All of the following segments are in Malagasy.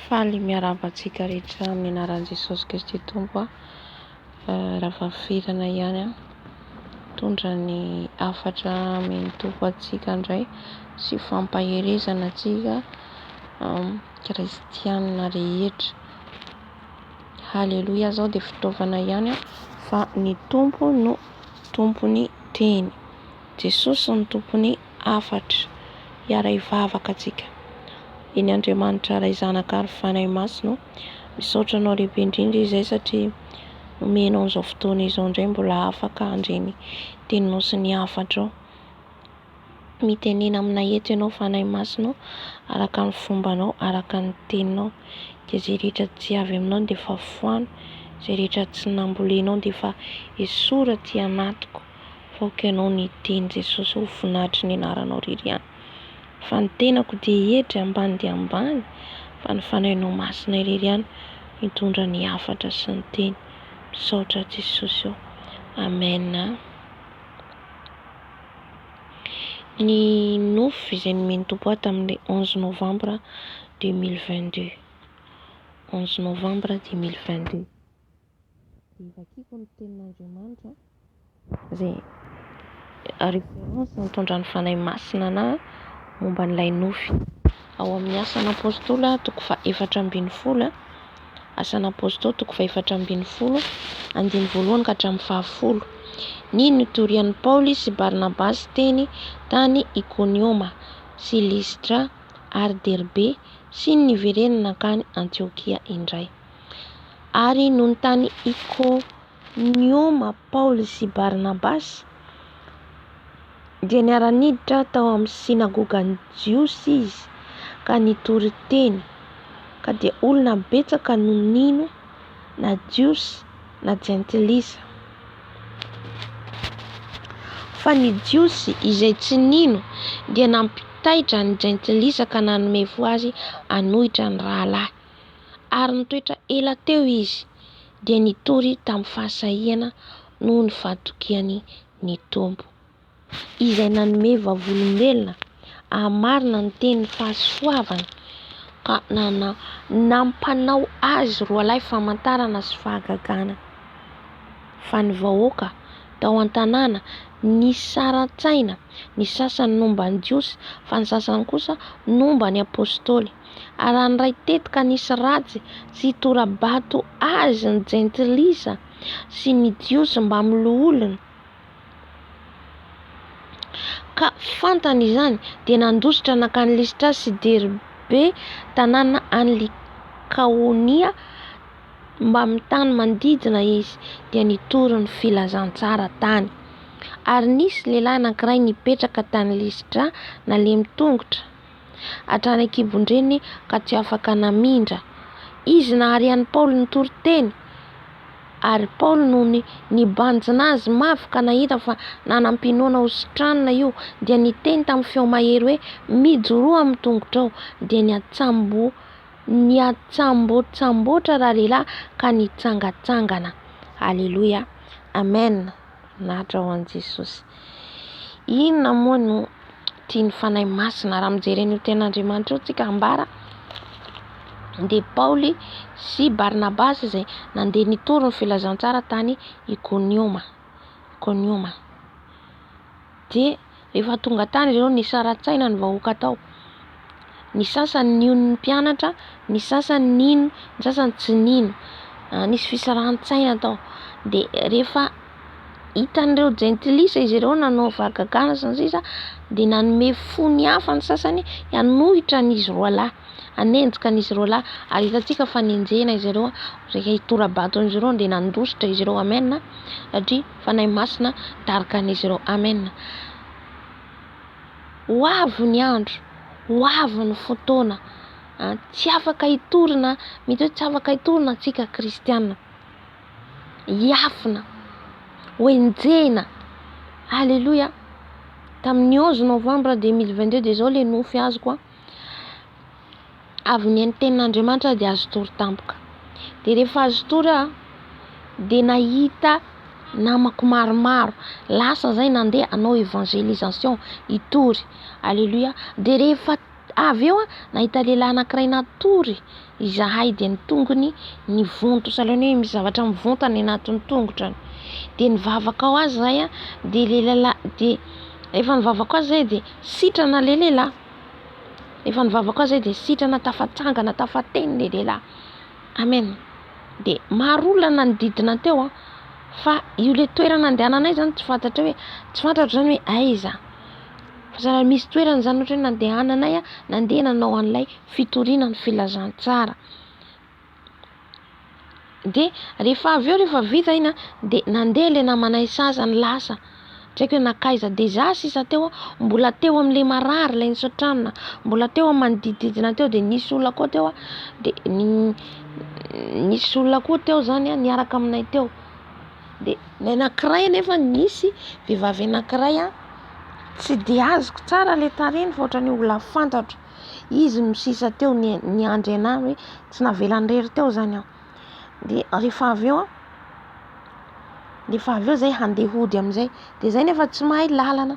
Faly miarahaba antsika rehetra amin'ny anaran'i Jesosy Kristy Tompo aho. Rafahafelana ihany aho hitondra ny hafatra amin'ny Tompo antsika indray sy fampaherezana antsika kristianina rehetra. Haleloia aho zao dia fitaovana ihany aho fa ny Tompo no tompon'ny teny. Jesosy no tompon'ny. hafatra hiaray vavaka antsika eny Andriamanitra Ray Zanaka ary Fanahy Masina misaotra anao lehibe indrindra izay satria omenao an'izao fotoana izao indray mbola afaka handre ny teninao sy ny hafatrao mitenena aminay eto ianao Fanahy Masina araka ny fombanao araka ny teninao dia izay rehetra tsy avy aminao dia efa foano izay rehetra tsy nambolenao dia efa esory aty anatiko Aoka ianao ny hiteny Jesosy ho voninahitry ny anaranao irery ihany Fa ny tenako dia hiedry ambany dia ambany Fa ny fanahinao masina irery ihany Mitondra ny hafatra sy ny teny Misaotra Jesosy ô Amen a Ny nofy izay nomen'ny Tompo ahy tamin'ilay onze novambra deux mille vingt deux Onze novambra deux mille vingt deux. dia vakiako ny tenin'Andriamanitra izay référence nitondra ny Fanahy Masina anah momba an'ilay nofy. Ao amin'ny Asan'Apôstôly toko fahefatra ambin'ny folo, Asan'Apôstôly toko fahefatra ambin'ny folo andininy voalohany ka hatramin'ny fahafolo. Ny nitorian'i Paoly sy Barnabasy teny tany Ikonioma sy Listra ary Derbe sy ny niverenany nankany Antiokia indray. Ary nontany Ikonioma Paoly sy Barnabasy dia niara-niditra tao amin'ny synagogan'ny Jiosy izy ka nitory teny, ka dia olona betsaka no nino, na Jiosy na Jentilisa. Fa ny Jiosy izay tsy nino dia nampitaitra ny Jentilisa ka nanome fo azy hanohitra ny rahalahy. ary nitoetra ela teo izy dia nitory tamin'ny fahasahiana noho ny fahatokiany ny Tompo. Izay nanome vavolombelona hahamarina ny tenin'ny fahasoavana ka nana nampanao azy roalahy famantarana sy fahagagana. Fa ny vahoaka tao an-tanàna nisaran-tsaina, ny sasany nomba ny Jiosy fa ny sasany kosa nomba ny Apôstôly. ary handray tetika nisy ratsy sy hitora-bato azy ny jentilisa sy ny Jiosy mbamin'ny loholony, ka fantany izany, dia nandositra nankany Listra sy Derbe, tanàna any Likaonia, mbamin'ny tany manodidina izy, dia nitory ny filazantsara tany. Ary nisy lehilahy anankiray nipetraka tany Listra, nalemy tongotra. hatrany an-kibon-dreniny ka tsy afaka namindra. Izy nahary an'i Paoly nitory teny, ary Paoly nony nibanjina azy mafy ka nahita fa nanam-pinoana ho sitranina io, dia niteny tamin'ny feo mahery hoe, Mijoroa amin'ny tongotrao! Dia niatsambo niatsambotsamboatra ralehilahy ka nitsangatsangana. Aleloia. Amen. Voninahitra ho an'i Jesosy. Inona moa no tian'ny Fanahy Masina raha mijery an'io ten'Andriamanitra io tsika ambara dia Paoly sy Barnabasy izay nandeha nitory ny filazantsara tany Ikonioma. Ikonioma. Dia rehefa tonga tany ireo, nisaratsaina ny vahoaka tao. Ny sasany nino ny mpianatra, ny sasany nino, ny sasany tsy nino. Nisy fisarahantsaina tao. Dia rehefa hitan'ireo jentilisa izy ireo nanao fahagagana sy ny sisa dia nanome fony hafa ny sasany hanohitra an'izy roa lahy, hanenjika an'izy roa lahy. Ary hitantsika fa nenjehina izy ireo, rehefa hitora-bato an'izy ireo dia nandositra izy ireo amen satria. Fanahy Masina daroka an'izy ireo. Amen. Ho avy ny andro, ho avy ny fotoana. Ah, tsy afaka hitorina, mety hoe tsy afaka hitorina antsika kristiana. Hiafina, ho enjehina. Alléluia. Tamin'ny 11 novembre 2022 dia izao le nofy azoko a. avy ny an'ny tenin'Andriamanitra dia azo tory tampoka. Dia rehefa azo tory aho dia nahita namako maromaro, lasa zay nandeha hanao évangélisation, hitory. Alléluia. Dia rehefa avy eo aho nahita lehilahy anankiray natory Izahay dia ny tongony nivonto, sahalan'ny hoe misy zavatra mivonto any anatin'ny tongotra any. Dia nivavaka ho azy izahay, dia ilay lehilahy, dia efa nivavaka ho azy izahay dia sitrana ilay lehilahy. Efa nivavaka ho azy izahay dia sitrana, tafatsangana, tafateny ilay lehilahy. Amen! Dia maro olona nanodidina teo fa io ilay toerana andehananay izany tsy fantatrao hoe, tsy fantatro izany hoe aiza. Raha misy toerana izany ohatra hoe nandehananay aho, nandeha nanao an'ilay fitoriana ny filazantsara. Dia rehefa avy eo rehefa vita iny an, dia nandeha ilay namanay sasany lasa, tsy haiko hoe nankaiza. Dia izaho sisa teo an, mbola teo amin'ilay marary ilay nisotranina, mbola teo amin'ny manodidididina teo. Dia nisy olona koa teo an, dia nisy olona koa teo izany an niaraka aminay teo. dia ny anankiray anefa nisy vehivavy anankiray a tsy dia azoko tsara ilay tarehiny fa ohatran'ny olona fantatro izy no sisa teo ny niandry anahy hoe tsy navelan'irery teo izany aho dia rehefa avy eo a rehefa avy eo izay handeha hody amin'izay dia izay nefa tsy mahay lalana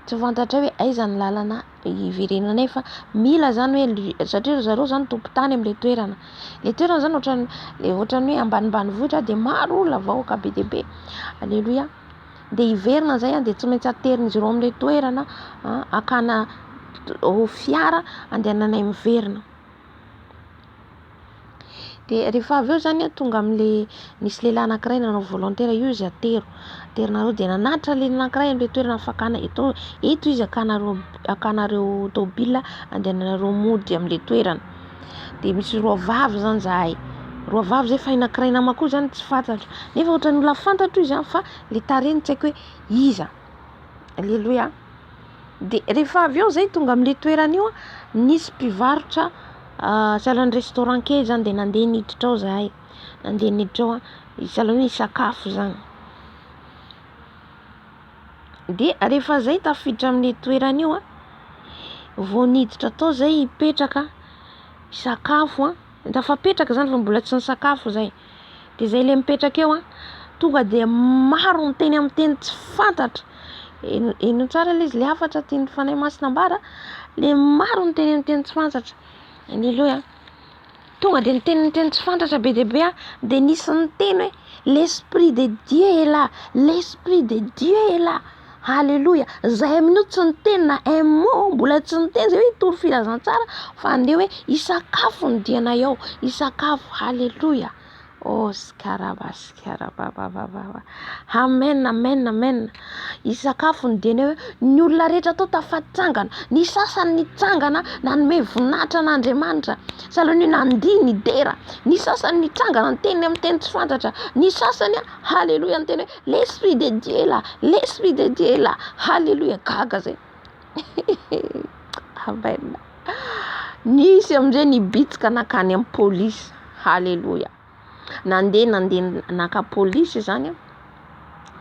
tsy fantatray hoe aiza ny lalana hiverenanay fa mila zany hoe satria ry zareo zany tompon-tany amin'ilay toerana ilay toerana zany ohatran'ny le ohatran'ny hoe ambanimbanivohitra dia maro olona vahoaka be dia be aleloia dia hiverina zay a dia tsy maintsy aterin'izy ireo amin'ilay toerana akana fiara andehananay miverina Dia rehefa avy eo izany an, tonga amin'ilay nisy lehilahy anankiray nanao volontaire io izy atero. Aterinareo dia nanatitra ny lehilahy anankiray amin'ilay toerana fakàna. Eto eto izy hakanareo hakanareo tômôbila handehananareo mody amin'ilay toerana. Dia misy roa vavy izany izahay. Roa vavy izay fa ny anankiray namako io izany tsy fantatra. Nefa ohatran'ny olona fantatro izy fa ilay tarehiny tsy haiko hoe iza. Aleloia. Dia rehefa avy eo zay tonga amin'ilay toerana io nisy mpivarotra sahalan'ny restaurant kely zany dia nandeha niditra ao zahay, nandeha niditra ao sahala hoe hisakafo zany. Dia rehefa zay tafiditra amin'ilay toerana io vao niditra tao zay hipetraka hisakafo, tafapetraka zany fa mbola tsy nisakafo zay. Dia izay ilay mipetraka eo an, tonga dia maro miteny amin'ny teny tsy fantatra, henoy tsara ilay izy ilay hafatra tian'ny Fanahy Masina ambara, ilay maro miteny amin'ny teny tsy fantatra, aleloia, tonga dia miteny amin'ny teny tsy fantatra be dia be aho, dia nisy niteny hoe, l'esprit de Dieu est là, l'esprit de Dieu est là. Aleloia! Izay amin'io no tsy niteny na un mot mbola tsy niteny izay hoe hitory filazantsara fa andeha hoe hisakafo ny dianay ao, hisakafo. Aleloia! Oh skaraba skaraba babababa. Amen amen amen. Hisakafo ny dianay ao. Ny olona rehetra tao tafatsangana. Ny sasany nitsangana nanome voninahitra an'Andriamanitra. Sahalan'ny hoe nandihy ny dera. Ny sasany nitsangana niteny amin'ny teny tsy fantatra. Ny sasany aleloia niteny hoe. L'esprit de Dieu est là, l'esprit de Dieu est là, haleloia, gaga zay amen, nisy amizay nibitsika nakany am police, haleloia, nande nande naka police zany an,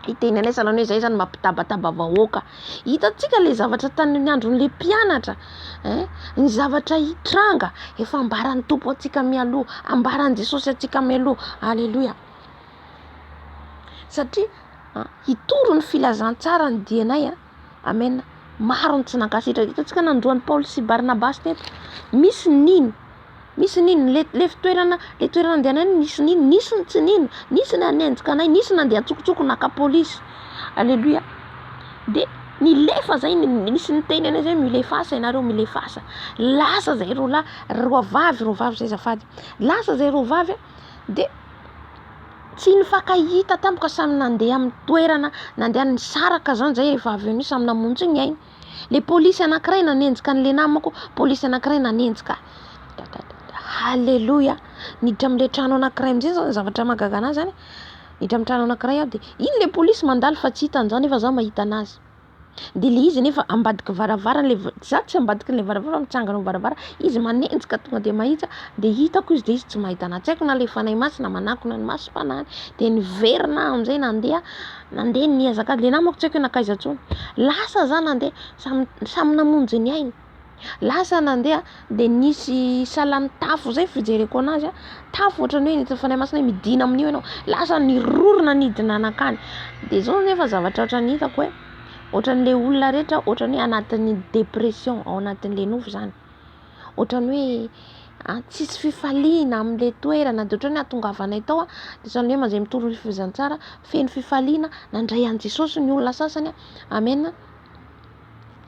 hiteny anay zalahy hoe zay zany mampitabataba vahoaka, hitatsika le zavatra tamin'ny andron'le mpianatra ein, ny zavatra hitranga efa ambaran'ny Tompo antsika mialoha, ambaran'i Jesosy antsika mialoha, haleloia. satria hitory ny filazantsara ny dianay a amena maro ny tsy nankasitraka hitantsika nandroany Paoly sy Barnabasy teto misy ny nino misy ny nino le fitoerana le toerana andehanay nisy ny nino nisy ny tsy nino nisy ny hanenjika anay nisy ny nandeha an-tsokosoko naka polisy aleloia de nilefa zay nisy ny teny anay zay milefasa ianareo milefasa lasa zay roalahy roavavy roavavy zay zafady lasa zay roavavy a dia tsy nifankahita tamiko ka samy nandeha amin'ny toerana nandeha nisaraka zany zay rehefa avy eo samy namonjy ny ainy, le polisy anakiray nanenjika an'le namako, polisy anakiray nanenjika ahy, dadadada, haleloia, niditra amle trano anakiray amzay zany zavatra mahagaga anahy zany, niditra am trano anakiray aho de iny le polisy mandalo fa tsy hitany za nefa za mahita anazy. de le izy nefa ambadiky varavarana le va- za tsy ambadiky le varavara fa mitsangana eo varavara izy manenjika tonga de mahita de hitako izy de izy tsy mahita anahy tsy aiko na le fanahy masina manakona ny masom-panahiny de niverina aho am'zay nandeha nandeha nihazakazaka le namako tsy aiko hoe nankaiza ntsony lasa za nandeha samy samy namonjy ny ainy Lasa nandeha dia nisy salan'ny tafo izay fijereko anazy tafo ohatran'ny hoe anaty fanahimasina hoe midina amin'io ianao lasa nirorona nidina nankany dia izao nefa zavatra ohatran'ny hitako hoe ohatran'le olona rehetra ohatran'ny hoe anatin'ny dépression ao anatin'le nofo izany ohatran'ny hoe tsisy fifaliana amin'le toerana dia ohatran'ny hoe ahatongavanay tao dia ohatran'ny hoe mazay mitory ny filazantsara feno fifaliana nandray an'i Jesosy ny olona sasany amen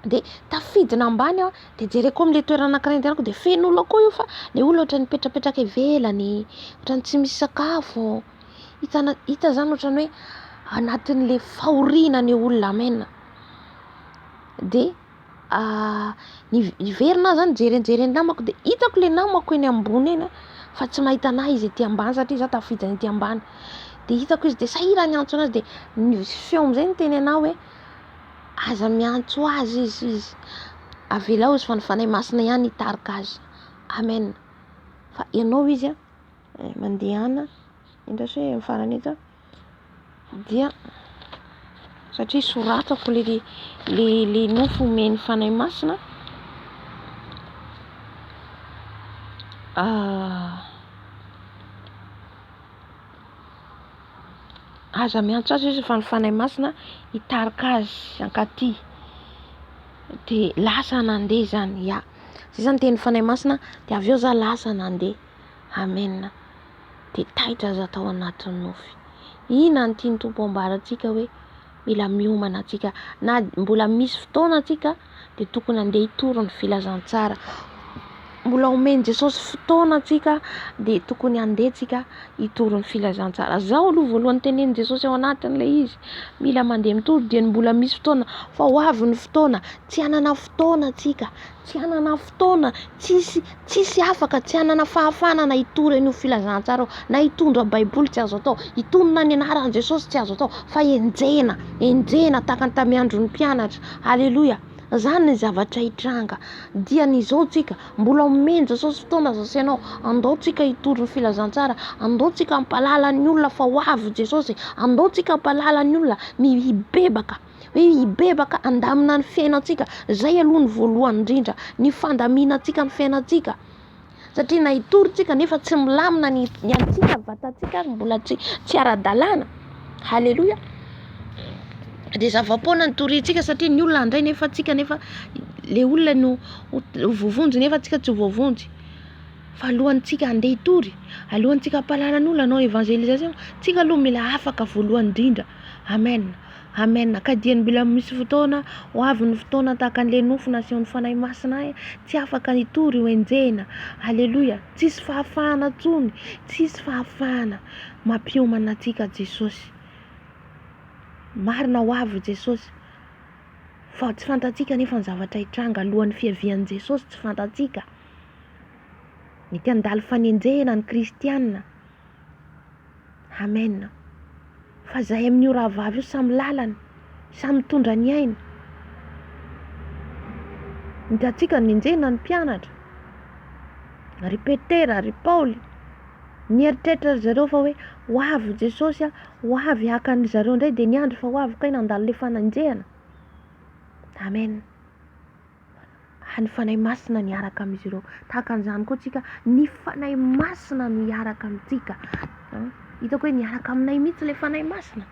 dia tafidina ambany aho dia jereko amin'ilay toerana anankiray andehanako dia feno olona koa io fa ilay olona ohatran'ny mipetrapetraka ivelany, ohatran'ny tsy misy sakafo, hitana hita izany ohatran'ny hoe anatin'ilay fahoriana ilay olona amen dia ah, niverina aho zany nijery nijery ny namako dia hitako ilay namako eny ambony eny fa tsy mahita anahy izy ety ambany satria za tafidina ety ambany dia hitako izy dia sahirany antso anazy dia ny feo amin'izay ny teny anahy hoe Aza miantso azy izy izy. Avelao izy fa ny Fanahy Masina ihany hitarika azy. Amen. Fa ianao izy a, eh, mandehana, indray se amin'ny farany eto, dia satria soratako le le le nofo omen'ny Fanahy Masina. Ah. Aza miantso azy izy fa ny Fanahy Masina hitarika azy hankaty. Dia lasa nandeha izany, ya. Izay izany dia ny Fanahy Masina, dia avy eo izaho lasa nandeha. Amen. Dia taitra izaho tao anatin'ny nofy. Inona no tian'ny Tompo ambara antsika hoe. mila miomana antsika na mbola misy fotoana antsika dia tokony andeha hitory ny filazantsara mbola omen'i Jesosy fotoana antsika dia tokony andeha antsika hitory ny filazantsara zao aloha voalohany tenenin'i Jesosy ao anatin'ilay izy mila mandeha mitory dia ny mbola misy fotoana fa ho avy ny fotoana tsy hanana fotoana antsika tsy hanana fotoana, tsisy tsisy afaka, tsy hanana fahafahana na hitory an'io filazantsara io, na hitondra baiboly tsy azo atao, hitonona ny anaran'i Jesosy tsy azo atao fa enjehina, enjehina tahaka ny tamin'ny andron'ny mpianatra, aleloia, zany ny zavatra hitranga, dia ny zao tsika mbola omen'i Jesosy fotoana za sy ianao, andao tsika hitory ny filazantsara, andao tsika hampahalala ny olona fa ho avy Jesosy, andao tsika hampahalala ny olona ny hibebaka. hoe hibebaka handamina ny fiainantsika. Izay aloha ny voalohany indrindra, ny fandaminantsika ny fiainantsika. Satria na hitory tsika nefa tsy milamina ny ny antsika, ny vatantsika ary mbola tsy tsy ara-dalàna. Haleloia! Dia zava-poana ny toriantsika satria ny olona handray nefa antsika nefa le olona no ho voavonjy nefa antsika tsy voavonjy. Fa alohantsika handeha hitory, alohantsika hampahalala ny olona hanao evangelisation, tsika aloha mila afaka voalohany indrindra. Amen! Amen ka dia ny mbola misy fotoana ho avy ny fotoana tahaka an'ilay nofo nasehon'ny Fanahy Masina ahy tsy afaka hitory io enjehina Alléluia tsisy fahafahana intsony tsisy fahafahana mampiomana antsika Jesosy marina ho avy Jesosy fa tsy fantatsika anefa ny zavatra hitranga alohan'ny fiavian'i Jesosy tsy fantatsika mety handalo fanenjehina ny kristianina Amen fa zahay amin io rahavavy io samy lalana samy mitondra ny ainy nitatsika ny enjehina ny mpianatra ry petera ry paoly nieritreritra ry zareo fa hoe ho avy jesosy a ho avy haka ny zareo indray dia niandry fa ho avy kay nandalo le fanenjehana amen ny Fanahy Masina niaraka amin'izy ireo. Tahaka an'izany koa tsika, ny Fanahy Masina no hiaraka amintsika. Hitako hoe niaraka aminay mihitsy ilay Fanahy Masina.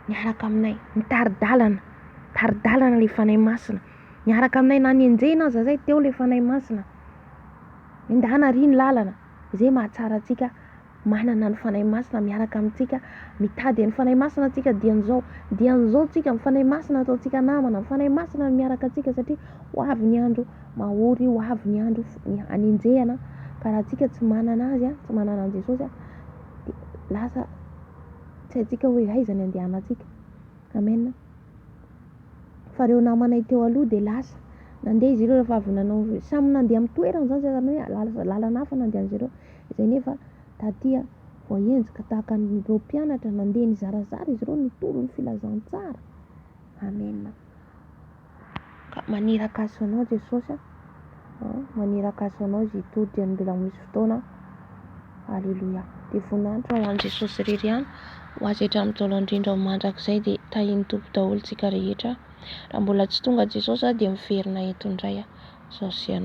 Niaraka aminay, mitari-dalana, mitari-dalana ilay Fanahy Masina. Niaraka aminay na nenjehina aza izay teo ilay Fanahy Masina. Endahana àry ny lalana, izay mahatsara antsika. manana ny Fanahy Masina miaraka amintsika, mitady an'ny Fanahy Masina antsika diany izao, diany izao tsika ny Fanahy Masina ataontsika namana, ny Fanahy Masina no miaraka antsika satria ho avy ny andro mahory, ho avy ny andro hanenjehana, ka raha tsika tsy manana azy, tsy manana an'i Jesosy dia lasa tsy haintsika hoe aiza ny andehanantsika, amen. Fa ireo namanay teo aloha dia lasa nandeha izy ireo rehefa avy nanao, samy nandeha amin'ny toerany izany, izay izany hoe lalana hafa nandehan'izy ireo, Izay nefa taty voahenjika tahaka an'ireo mpianatra nandeha nizarazara izy ireo nitolo ny filazantsara. Amena. Ka maniraka aso anao Jesosy a. Maniraka aso anao izy hitory dia mbola ho misy fotoana. Aleloia. Dia voninahitra ho an'i Jesosy irery ihany. Ho azy hatramin'ny Ntaolo Andrindra ho mandrakizay dia tahian'ny Tompo daholo tsika rehetra. Raha mbola tsy tonga Jesosy aho dia miverina eto indray aho. Sao sy ianao.